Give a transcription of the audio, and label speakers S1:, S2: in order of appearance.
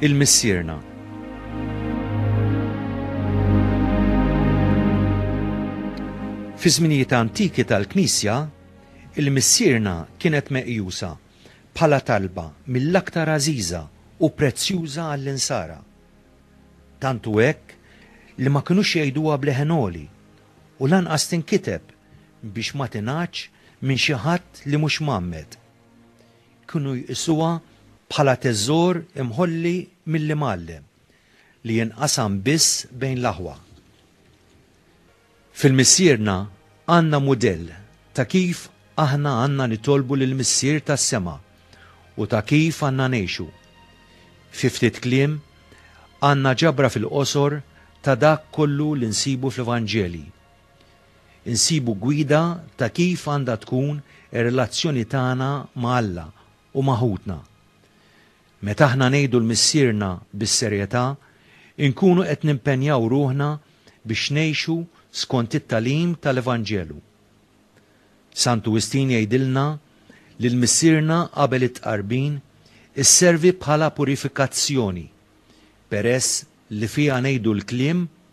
S1: Il-Missierna Fi żminijiet antiki tal-Knisja, il-missierna kienet meqjusa bħala talba mill-aktar għażiża u prezzjuża għall-insara. Tantu hekk li ma kinux jgħiduha bleħen għoli u lanqas tinkiteb biex ma tingħaġġ minn xi ħadd li mhux mgħammed. Kienu jqisuha bħala teżor imħolli mill-imgħallem li jinqasam biss bejn l-aħwa. Fil-Missierna għandna mudell ta' kif aħna għandna nitolbu lill-Missier tas-sema u ta' kif għandna ngħixu. Fi ftit kliem, għandna ġabra fil-qosor ta' dak kollu li nsibu fl-Evanġelji. Insibu gwida ta' kif għandha tkun ir-relazzjoni tagħna ma' Alla u ma' ħutna. Meta aħna ngħidu l-Missierna bis-serjetà, inkunu qed nimpenjaw ruħna biex ngħixu skont it-tagħlim tal-Evanġelu. Santu Wistin jgħidilna li l-Missierna qabel it-Tqarbin isservi bħala purifikazzjoni peress li fiha ngħidu l-kliem